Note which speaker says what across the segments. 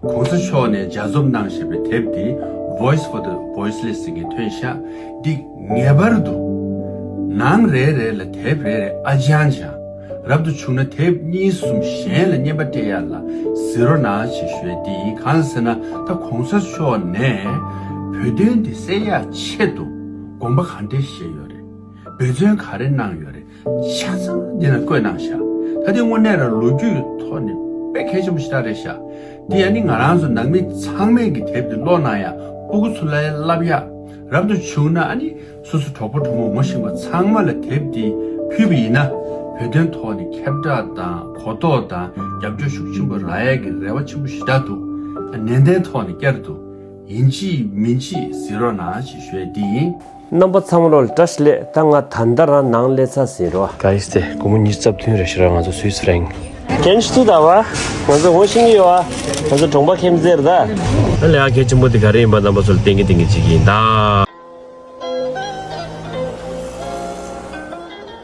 Speaker 1: གོང་ས་མཆོག་ནས་སྦྱར་རྩོམ་གནང་བཞིན་པའི་དེབ་འདི Voice for the Voiceless ཟེར་གྱི་ཐོན་ཤག་འདི་ངེས་པར་དུ་ནང་རེ་རེ་ལ་དེབ་རེ་རེ་ཨ་ཅང་ཅང་རབ་ཏུ་བྱུང་ན་དེབ་གཉིས་གསུམ་གཞན་ལ་བསྙེན་པ་སྤྲད་ཡག་ལ་ཟེར་རོ་ན་བྱེད་ཞོལ་འདི་ཡིན་གང་ཟེར་ན་ད་གོང་ས་མཆོག་ནས་བོད་དོན་འདི་གསལ་ཡག་ཆེད་དུ་དགོངས་པ་ག་འདྲེ་བཞེས་ཡོད་རེད་འབད་བརྩོན་ག་རེ་གནང་ཡོད་རེད་ཆ་ཚང་འདི་ན་བཀོད་གནང་བཞག་ད་དེ་དངོས་གནས་རང་ལོ་རྒྱུས་ཐོག་ནས་དཔེ་མཁས་ཆེན་པོ་ཞིག་ཏག་རེད་བཞག་དེ་ཡང་ནི་ང་རང་ཚོ་ནང་མི་ཚང་མས་གི་དེབ་འདི་ཀློག་གནང་ཡང་སྤུ་གུ་ཚུར་ལ་ཡ་བསླབ་ཡ་རབ་ཏུ་བྱུང་ན་ཨ་ནི་སོ་སོ་གྲོགས་པོ་གྲོགས་མོ་མོ་ཞིང་པ་ཚང་མ་ལ་དེབ་འདི་ཕུལ་བ་ཡིན་ན་བོད་དོན་ཐོག་ནས་ཁྱབ་བསྒྲགས་དང་གོ་རྟོགས་དང་རྒྱབ་སྐྱོར་ཤུགས་ཆེན་པོ་རག་ཡ་གི་རེ་བ་ཆེན་པོ་ཞིག་ཏག་འདུག་ནན་ཏན་ཐོག་ནས་བསྐྱར་དུ་ཡིན་ཅི་མིན་ཅི་ཟེར་རོགས་གནང་ཞེས་ཞུ་ཡ་འདི་ཡིན། རྣམ་པ་ཚང་
Speaker 2: རོལ་ཏྲ་སི་ལེད་ད་ང་ད་ལྟ་རང་ནང་ལེ་ཚ་ཟིན་རོ། ག་ཡིས་ཏེ་དགོང་མོ་ཉིས་རྩ་བདུན་རེ་ཤི་ར་ང་ཚོ་སུའི་སི་རེང། ཀན་སུ་ད་བ། ང་ཚོ་ཧོ་ཤིང་གི་ཡོ་ཨ། ང་ཚོ་གྲོང་པ་ཁེམ་ཙེ་རི་ད། ད་ལེ་ཨ་གལ་ཆེན་པོ་དེ་ག་རེ་ཡིན་པ་རྣམ་པ་ཚོ་ལ་བསྟན་གི་བསྟན་གི་བྱེད་ཀྱི་ཡིན་ད།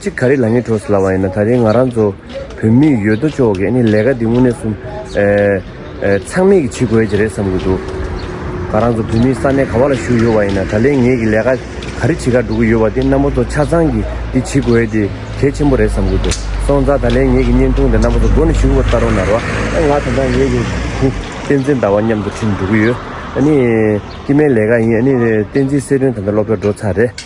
Speaker 2: གཅིག་ག་རེ་ལ་ངེས་འགྲོ་ཟེར་ལབ་པ་ཡིན་ན་ད་རེས་ང་རང་ཚོ་བོད་མི་ཡོད་དོ་ཅོག་གིས་ནི་ལས་ཀ་འདི་དངོས་གནས་གསུམ། ཚང་མས་ཀྱིས་བྱེད་དགོས་ཀྱི་རེད་བསམ་གྱི་འདུག་ང་རང་ཚོ་བོད་མི་ས་གནས་ག་བ་ལ་བཞུགས་ཡོད་པ་ཡིན་ན་ད་ལས་ངེས་ཀྱི་ལས་ཀ་ག་རེ་བྱེད་ཁར་འགྲོ་གི་ཡོད་པ་དེ་རྣམ་པ་ཚོ་ཆ་ཚང་གིས་འདི་བྱེད་དགོས་དེ་གལ་ཆེན་པོ་རེད་བསམ་གྱི་འདུག་སོང་ཙང་ད་ལས་ངེས་ཀྱི་བརྙན་ཐུང་དེ་རྣམ་པ་ཚོ་སྒོ་ནས་བཞུགས་པར་བལྟ་རོགས་གནང་རོགས། ང་ད་ལྟ་ངེས་ཀྱི་དེ་བསྟན་འཛིན་ཟླ་བ་མཉམ་དུ་ཁྲིད་འགྲོ་གི་ཡོད། ཨ་ནི། སྐྱིད་མའི་ལས་ཀ་ཡིན་ཨ་ནི་བསྟན་འཛིན་གསལ་སྒྲོན་ད་ལྟ་སློབ་གྲྭར་འགྲོ་ཚར་རེད།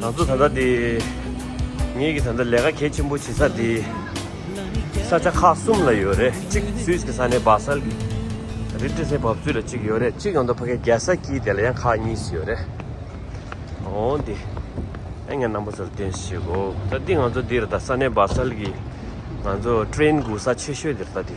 Speaker 2: ང་ཚོ་ད་ལྟ་འདི་ངེད་ཀྱི་ད་ལྟ་ལས་ཀ་གལ་ཆེན་པོ་བྱེད་ས་འདི་ས་ཆ་ཁག་གསུམ་ལ་ཡོད་རེད་གཅིག་སུད་ཀྱི་ས་ནས་སྦག་སལ་གྱི་རི་ཏི་སེ་བབས་ཚུལ་ལ་གཅིག་ཡོད་རེད་གཅིག་ཡང་ཏོག་ཕ་གའི་རྒྱལ་ས་ཀྱི་དེ་ལ་ཡང་ཁག་གཉིས་སུ་ཡོད་རེད་འོ་འདི་ཨེ་ངའི་རྣམ་པ་ཚོར་བསྟན་ཤེས་གོ་ད་འདི་ང་ཚོ་འདིར་ད་ས་གནས་སྦག་སལ་གྱི་ང་ཚོ་ཏྲེན་དགུ་ས་ཆེ་ཤོས་འདིར་ད་འདི།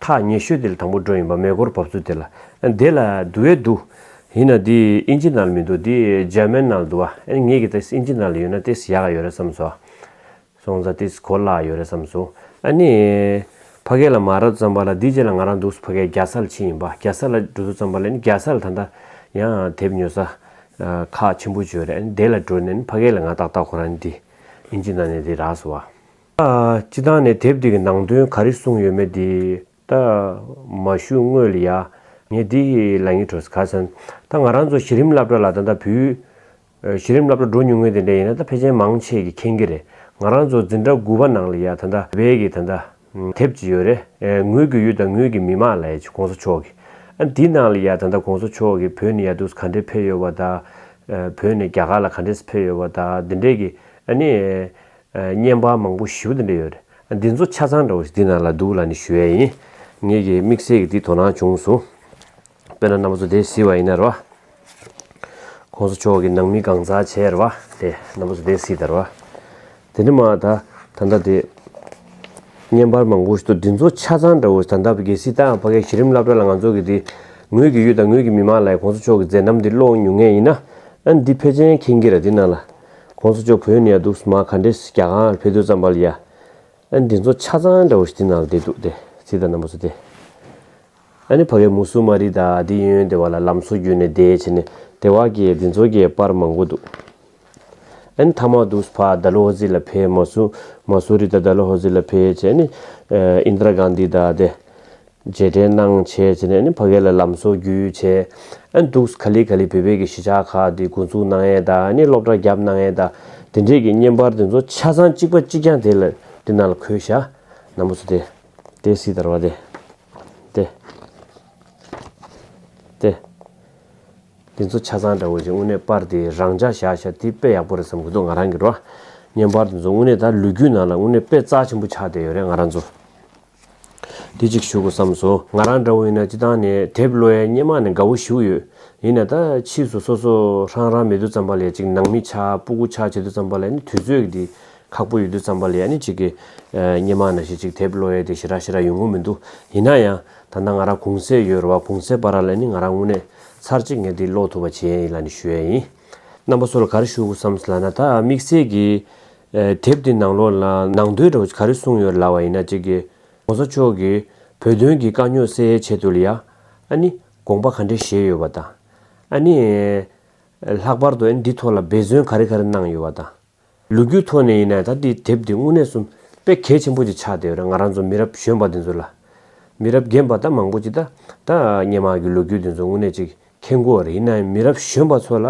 Speaker 2: ཐག་ཉེ་ཤོས་དེ་ལ་དང་པོ་འགྲོ་ཡིན་པ་མེད་སྐོར་བབས་ཚུལ་དེ་ལ། དེ་ལ་དུ་བའི་དུ། ཡིན་ན་འདི་ཨིན་ཇི་ནལ་མི་འདུག་འདི་ཇར་མན་ནལ་འདུག་བ། ཨེ་ངེད་ཀྱིས་ཏེས་ཨིན་ཇི་ནལ་ཡོད་ན་ཏེས་ཡག་ག་ཡོད་རེད་བསམས་སོ། སོང་ཙང་ཏེས་གོ་སླ་ག་ཡོད་རེད་བསམས་སོང། ཨ་ནི། ཕ་སྐད་ལ་མ་རབས་ཙམ་པ་ལ་འདིའི་རྗེས་ལ་ང་རང་འདུག་ས་ཕ་སྐད་རྒྱ་ས་ལ་ཕྱིན་ཡིན་པ་རྒྱ་ས་ལ་འགྲོ་ཚུལ་ཙམ་པ་ལ་ཨེ་ནི་རྒྱ་ས་ལ་ད་ལྟ། ཡང་དེབ་ཉོ་ས། ཁག་ཆེན་པོ་བྱོས་རེད་ཨེ་ནི་དེ་ལ་འགྲོ་ནས་ཨེ་ནི་ཕ་སྐད་ལ་ང་ཏག་ཏག་ཁོ་རང་ནི་འདི་ཨིན་ཇི་ནལ་ནས་འདི་རགས་སོ་བ། སྤྱི་བཏང་ནས་དེབ་དེ་གི་ནང་དོན་ག་རེ་གསུངས་ཡོད་མེད་དེ་ད་མ་ཞུ་དངོས་ལ་ཡ། ངས་དེ་གི་ལ་ཉིག་བྲོ་ཟེར་ག་ཚོན་ད་ང་རང་ཚོ་གཞི་རིམ་སླབ་གྲ་ལ་ད་ད་བུ། གཞི་རིམ་སླབ་གྲ་འགྲོ་ཉུང་ངེས་དེ་འདྲ་ཡིན་ན་ད་ཕལ་ཆེན་མང་ཆེས་གི་མཁྱེན་གི་རེད་ང་རང་ཚོ་འཛིན་གྲ་དགུ་བ་ནང་ལ་ཡ་ད་ད་བལ་གི་ད་ད་དེབ་ཅིག་ཡོད་རེད་ངོས་དགུ་ཡུལ་དང་ངོས་གི་མི་མང་ལ་ཡ་ཅིག་གོང་ས་མཆོག་གི་ཨ་འདི་ནང་ལ་ཡ་ད་ད་གོང་ས་མཆོག་གི་བོད་ནས་ཡ་དུས་ག་འདྲས་ཕེབས་ཡོད་བ་ད་བོད་ནས་རྒྱ་གར་ལ་ག་འདྲས་སུ་ཕེབས་ཡོད་བ་ད་དེ་འདྲས་གི་ཨ་ནི། བརྙན་པར་མང་པོ་ཞིབ་ཏུ་འབྲི་ཡོད། འདི་ཚོ་ཆ་ཚང་འདྲ་བོ་ཞིག་འདི་ན་ལ་འདུག་ལ་ནི་ཞུ་ཡས་ཡིན། ངེད་ཀྱིས་དམིགས་བསལ་གྱི་འདི་དོ་སྣང་བྱུང་སོང། དཔེར་ན་གནའ་མོ་ཚོ་སྡེ་བསིལ་བ་ཡིན་ནར་བ། ཁོང་ཚོ་ཕྱོགས་ཀྱི་ནང་མི་གང་ཟག་བྱས་ར་བ་དེ་གནའ་མོ་ཚོ་སྡེ་བསིལ་དར་བ། དེ་ནི་མ་ད་ད་ད་དེ། བརྙན་པར་མང་པོ་ཞིག་ཏུ་འདི་ཚོ་ཆ་ཚང་འདྲ་བོ་ཞིག་ད་ད་རྒྱལ་སྲིད་ད་ཕ་གའི་གཞི་རིམ་བླ་བྲ་ལ་ང་ཚོ་གི་འདི། ངོས་ཀྱི་ཡུལ་དང་ངོས་ཀྱི་མི་མང་ལ་ཡི་ཁོང་ཚོ་ཕྱོགས་ཀྱི་མཛད་རྣམ་འདི་ཀློག་མྱོང་ངེས་ཡིན་ན། འདི་ཕལ་ཆེན་མཁྱེན་གྱི་ར་འདི་ན་ལ ྋགོང་ས་མཆོག་བོད་ནས་འདུག་སྨྲ་ག་འདྲེ་རྒྱ་གར་ནང་ཕེབས་དུས་ཙམ་པ་ལ་ཡ་ཨ་འདི་ཚོ་ཆ་ཚང་འདྲ་བོ་ཞིག་དེ་ནང་ལ་བསྡད་འདུག་སྟེ་ཚིག་དང་རྣམ་པ་ཚོ་སྟེ། ཨ་ནི་ཕ་གའི་མུ་སུ་མ་རི་དག་འདི་ཡོན་ཡོན་སྡེ་བ་ལ་ལམ་སོ་བརྒྱུད་ནས་བསྡད་བྱས་ནས་དེ་བ་གའི་འདི་ཚོ་གའི་པར་མང་པོ་འདུག་ཨ་ནི་ཐ་མག་འདུག་ཕ་དཱ་ལོ་ཧོ་ཛི་ལ་ཕེབས་མ་སུ་མ་སུ་རི་དང་དཱ་ལོ་ཧོ་ཛི་ལ་ཕེབས་བྱས་ནས་ཨིནྡ་ར་གང་དྷི་དག་སྟེ། རྗེས་དྲན་གནང་བྱས་བྱས་ནས་ནི་ཕ་གའི་ལ་ལམ་སོ་རྒྱུས་བྱས་ཨེ་འདུག་ག་ལི་ག་ལི་བོད་པའི་གི་གཞིས་ཆགས་ཁག་དེ་འགོ་འཛུགས་གནང་ཡས་དང་ནི་སློབ་གྲྭ་བརྒྱབ་གནང་ཡས་དང་དེ་འདྲས་གི་བརྙན་པར་དེ་ཚོ་ཆ་ཚང་གཅིག་པ་གཅིག་རྐྱང་དེ་ལ་དེ་ནང་ལ་འཁོད་ཤག་ནང་པོ་ཚོ་དེ་དེ་སི་དར་བ་དེ་དེ་དེ་དེ་ཚོ་ཆ་ཚང་འདྲ་བོ་ཅིག་དངོས་གནས་པར་དེ་རང་འཇགས་བཞག་ཤག་དེ་དཔེ་ཡག་པོ་རེད་བསམ་གི་འདུག་ང་རང་གི་རོ་བརྙན་པར་དེ་ཚོ་དངོས་གནས་ད་ལུས་རྒྱུས་ནང་ལ་དངོས་གནས་དཔེ་རྩ་ཆེན་པོ་ཆགས་བསྡད་ཡོད་རེད་ང་རང་ཚོ། དེ་ཅིག་བཞུགས་བསམས་སོ། ང་རང་འདྲ་བོ་ཡིན་ན་སྤྱི་བཏང་ནས་དེབ་གློ་བའི་སྙེ་མ་ནས་དགའ་བོ་བཞུགས་ཡོད། ཡིན་ན་ད་ཕྱིས་སུ་སོ་སོ་རང་རང་མེད་དུ་བརྩམས་པ་ལས་ཅིག་ནང་མི་ཆ་པུ་གུ་ཆག་བྱེད་དུ་བརྩམས་པ་ལས་ནི་དུས་ཚོད་ཀྱི་དེ་ཁག་པོ་ཡོད་དུ་བརྩམས་པ་ལས་ཡ་ནི་ཅིག་གི་སྙེ་མ་ན་ཞིག་ཅིག་དེབ་གློ་བའི་དེ་ཞི་རག་ཞི་རག་ཡོད་ངོ་མི་འདུག་ཡིན་ན་ཡང་ད་ལྟ་ང་རང་གུང་གསེ་ཡོད་ར་བ་གུང་གསེ་པ་ར་ལས་ནི་ང་རང་དངོས་གནས་ཚར་གཅིག་ངས་དེ་ཀློག་ཐུབ་པ་བྱེད་ཡན་ཡིན་ལ་ནི་ཞུ་ཡན་ཡིན། རྣམ་པ་སོ་ལ་ག་རེ་བཞུགས་བསམས་ལ་ན་ད་དམིགས་བསལ་གྱི། དེབ་དེའི་ནང་ལོགས་ལ་ནང་དོན་རོ་ག་རེ་གསུངས་ཡོད་ལབ་བ་ཡིན་ན་གཅིག་གི། གོང་ས་མཆོག་གིས་བོད་དོན་གྱི་དཀའ་རྙོག་སེལ་ཡའི་ཆེད་དུ་ལ་ཡ། ཨ་ནི། དགོངས་པ་ག་འདྲེ་བཞེས་ཡོད་པ་དང། ཨ་ནི། ལྷག་པར་དུ་ཨ་ནི་འདི་ཐོག་ལ་འབད་བརྩོན་ག་རེ་ག་རེ་གནང་ཡོད་བ་དང། ལུ་གུའི་ཐོག་ནས་ཡིན་ན་ད་འདི་དེབ་འདི་དངོས་གནས་གསུམ་དཔེ་གལ་ཆེན་པོ་ཅིག་ཆགས་བསྡད་ཡོད་རེད་ང་རང་ཚོ་མི་རབས་གཞོན་པ་འདི་ཚོ་ལ། མི་རབས་རྒན་པ་ད་མང་པོ་ཅིག་ད་ད་སྙན་མག་གི་ལོ་རྒྱུས་འདི་ཚོ་དངོས་གནས་ཅིག་ཐེ་མགོ་རེད་ཡིན་ནའང་མི་རབས་གཞོན་པ་ཚོ་ལ་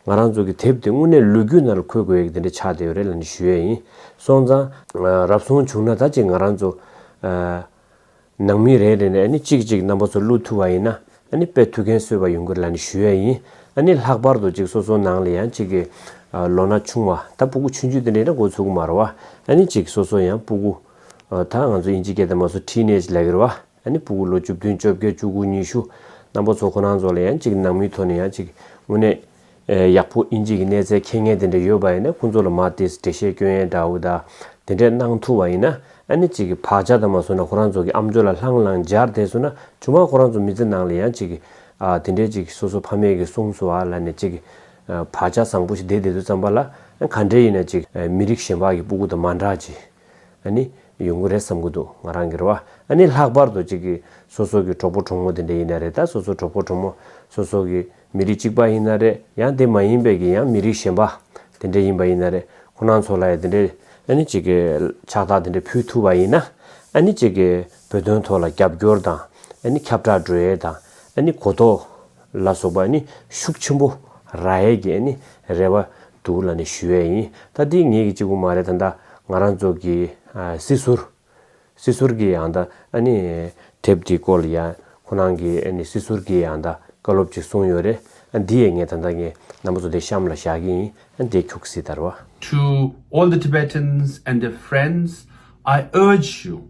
Speaker 2: ང་རང་ཚོ་གི་དེབ་དེ་དངོས་གནས་ལོ་རྒྱུས་ནང་ལ་འཁོད་དགོས་ཡག་དེ་འདྲ་ཆགས་བསྡད་ཡོད་རེད་ལ་ནི་ཞུ་ཡག་ཡིན་སོང་ཙང། རབ་སོང་བྱུང་ན་ད་ཅིག་ང་རང་ཚོ། ནང་མི་རེ་རེ་ནས་ཨ་ནི་ཅིག་ཅིག་རྣམ་པ་ཚོ་བླུ་ཐུབ་བ་ཡིན་ན་ཨ་ནི་དཔེ་ཐུག་མཁན་སོས་པ་ཡོང་གི་ལ་ནི་ཞུ་ཡག་ཡིན་ཨ་ནི་ལྷག་པར་དུ་ཅིག་སོ་སོ་ནང་ལ་ཡང་ཅིག་གི། ལོ་ན་ཆུང་བ་ད་སྤུ་གུ་ཆུན་ཆུན་དེ་འདྲ་ཡིན་ན་འགོ་ཚུགས་གི་མ་རེད་བ་ཨ་ནི་ཅིག་སོ་སོ་ཡང་སྤུ་གུ། ད་ང་ཚོ་དབྱིན་ཇི་སྐད་དང་མ་སོ་ཐྲིས་ནེ་ཇི་ལ་གི་རེད་བ། ཨ་ནི་སྤུ་གུ་ལོ་བཅུ་བདུན་བཅོ་བརྒྱད་བཅུ་དགུ་ཉི་ཤུ། གནམ་པོ་ཚོ་ཁོ་ནང་ཚོ་ལ་ཡང་གཅིག་ནང་མི་ཚོ་ནས་ཡང་གཅིག། དངོས་གནས། ཡག་པོ་ཨིན་གཅིག་གི་གནས་ཚད་ཁྱེད་ངས་དེ་འདྲ་ཡོད་པ་ཡིན་ན་ཁོང་ཚོ་ལ་མ་ཏིས་འགྲེལ་བཤད་སྐྱོན་ཡན་འདྲ་འུ་ད། དེ་འདྲས་གནང་ཐུབ་བ་ཡིན་ན་ཨ་ནི་གཅིག་གི་བག་ཆགས་དང་མ་སོ་ན་ཁོ་རང་ཚོ་གི་ཨམ་ཅོ་ལ་ལྷང་ལྷང་སྦྱར་བསྡད་སོ་ན་ཇོ་མ་ཁོ་རང་ཚོ་མི་ཚེ་ནང་ལ་ཡང་གཅིག། དེ་འདྲས་གཅིག་སོ་སོ་ཕ་མེས་ཀི་གསུངས་སོ་ཨ་ལ་ནས་གཅིག། བག་ཆགས་བཟང་པོ་ཞིག་བསྡད་བསྡད་དུ་བརྩམས་པ་ལ་ག་འདྲས་ཡིན་ན་གཅིག་མི་རིགས་གཞན་བག་གི་སྤུ་གུ་དང་མ་འདྲ་གཅིག། ཨ་ནི། ཡོང་གི་རེད་བསམ་གྱི་འདུག་ང་རང་གི་རེ་བ། ཨ་ནི་ལྷག་པར་དུ་གཅིག་གིས་སོ་སོ་གི་གྲོགས་པོ་གྲོགས་མོ་དེ་འདྲ་ཡིན་ན་རེད་ད་སོ་སོ་གྲོགས་པོ་གྲོགས་མོ་སོ་སོ་གི་མི་རིགས་གཅིག་པ་ཡིན་ན་རེད་ཡང་དེ་མ་ཡིན་པའི་གི་ཡང་མི་རིགས་གཞན་པ་དེ་འདྲ་ཡིན་པ་ཡིན་ན་རེད་ཁོ་རང་ཚོ་ལ་ཡང་དེ་འདྲའི་ཨ་ནི་གཅིག་གི་ཕྱག་རྟགས་དེ་འདྲ་ཕུལ་ཐུབ་པ་ཡིན་ན་ཨ་ནི་གཅིག་གི་བོད་དོན་ཐོག་ལ་རྒྱབ་སྐྱོར་དང་ཨ་ནི་ཁྱབ་བསྒྲགས་འགྲོ་ཡས་དང་ཨ་ནི་གོ་རྟོགས། ལ་སོགས་པ་ནི་ཤུགས་ཆེན་པོ་ར་ཧའི་རྒྱས་ནི་རེ་བ་འདུག་ལ་ནི་ཞུ་བས་ཡིན་ད་འདི་ངེད་ཀྱི་གཅིག་པུ་མ་རེད་ད་འདའ་ང་རང་ཚོ་གི་སྲིད་ཟུར་སྲིད་ཟུར་གྱི་ཡང་འདའ་ནི་དེབ་འདི་སྐོར་ལ་ཡང་ཁོ་རང་གི་ནི་སྲིད་ཟུར་གྱི་ཡང་འདའ་བཀའ་སློབ་ཅིག་གསུངས་ཡོད་རེད་ཨ་འདི་ཡས་ངས་ད་འདའ་ངའི་རྣམ་པ་ཚོ་འདི་གཤམ་ལ་བཞག་གི་ཡིན་ཨ་འདའི་ཁྱུག་སྲིད་དར་བ། To all
Speaker 1: the Tibetans and their friends, I urge you,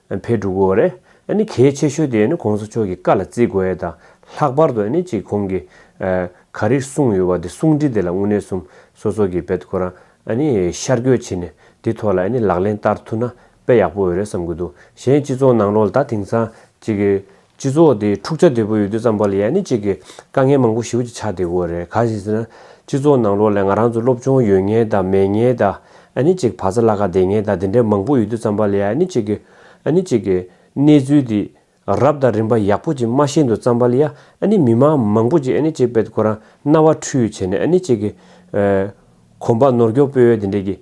Speaker 2: འཕེལ་འགྲོ་དགོས་བ་རེད། ནི་གལ་ཆེ་ཤོས་དེ་ནི་གོང་ས་མཆོག་གི་བཀའ་ལ་བརྩི་དགོས་ཡ་ད། ལྷག་པར་དུ་ནི་གཅིག་གོང་གི། ག་རིགས་གསུངས་ཡོད་བ་དེ་གསུང་འཕྲིན་དེ་ལ་དངོས་གནས་གསུམ་སོ་སོ་གི་བེད་ཁོ་རང། ནི་ཤར་བསྐྱོད་བྱེད་ནས་དེ་ཐོག་ལ་ནི་ལག་ལེན་བསྟར་ཐུབ་ན་དཔེ་ཡག་པོ་འོས་རེད་བསམ་གི་འདུག་གཞན་སྤྱི་ཚོགས་ནང་ལོག་ལ་ད་དེང་སང་གཅིག། སྤྱི་ཚོགས་དེ་འཁྲུག་ཆ་དོད་པོ་ཡོད་དུས་ཙམ་པ་ལ་ཡང་ནི་གཅིག་གི་དཀའ་ངལ་མང་པོ་ཞི་བ་གཅིག་ཆགས་དེ་དགོས་རེད་གང་ཞིག་ཟེར་ན་སྤྱི་ཚོགས་ནང་ལོགས་ལས་ང་རང་ཚོ་སློབ་སྦྱོང་ཡོད་ངེས་དང་མེད་ངེས་དང་ཨ་ནི་གཅིག་བག་ཚ་ལ་ཁ་བདེ་ངེས་དང་དེ་འདྲའི་མང་པོ་ཡོད་དུས་ཙམ་པ་ལ་ཡང་ནི་གཅིག་གི་ཨ་ནི་གཅིག་གི་གནས་ཚུལ་དེ་རབ་དང་རིམ་པ་ཡག་པོ་གཅིག་སྨྲ་ཤེས་འདུག་ཙམ་པ་ལ་ཡང་ཨ་ནི་མི་མང་མང་པོ་གཅིག་ཨ་ནི་གཅིག་པད་ཁོ་རང་རྣ་བ་འཁྲུལ་བྱས་ནས་ཨ་ནི་གཅིག་གི་གོམ་པ་ནོར་སྐྱོག་སྤོས་འོས་དེ་འདྲའི་གི་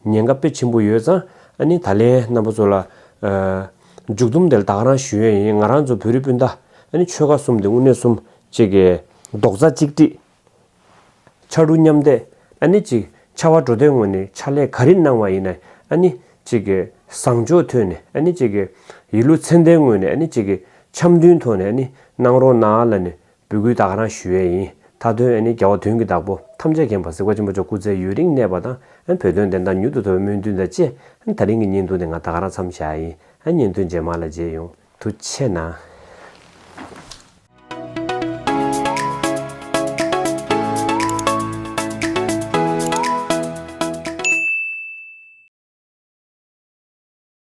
Speaker 2: ཉེན་ཁ་དཔེ་ཆེན་པོ་ཡོད་ཙང་ཨ་ནི་ད་ལན་རྣམ་པ་ཚོ་ལ་མཇུག་བསྡོམས་དེ་བདག་རང་ཞུ་ཡས་ཡིན་ང་རང་ཚོ་བོད་རིགས་སྤུན་ཟླ་ནི་ཆོལ་ཁ་གསུམ་དེ་དབུ་སྣེ་གསུམ་གཅིག་གི། རྡོག་རྩ་གཅིག་སྒྲིལ། ཕྱར་གྲུ་མཉམ་འདེགས་ཨ་ནི་གཅིག་ཕྱར་བ་གྲོ་སྟོད་ངོས་ནས་ཕྱག་ལས་ག་རེ་གནང་བ་ཡིན་ནའི་ཨ་ནི་གཅིག་གི། བཟང་ཕྱོགས་ཐོས་ནས་ཨ་ནི་གཅིག་གི། ཡིད་ལུས་ཚད་ལྡན་ངོས་ནས་ཨ་ནི་གཅིག་གི། འཆམ་མཐུན་ཐོག་ནས་ཨ་ནི་གནང་རོགས་གནང་ཨ་ལ་ནི་འབུལ་བསྐུལ་དག་ག་རང་ཞུ་ཡས་ཡིན་ད་དོན་ཨེ་ནི་རྒྱལ་བ་དོན་གྱི་བདག་པོ་ཐམས་ཅད་མཁྱེན་པ་གཟིགས་པ་ཆེན་པོ་མཆོག་སྐུ་ཚེ་ཡུན་རིང་གནས་པ་དང་བོད་དོན་བདེན་མཐའ་མྱུར་དུ་ཐོབ་པའི་སྨོན་འདུན་དང་བཅས་ད་རིང་གི་བརྙན་ཐུང་དེ་ང་ད་ག་རང་འཚམས་བཞག་ཡིན་བརྙན་ཐུང་རྗེས་མ་ལ་མཇལ་ཡོང་དུ་ཆེ་ན།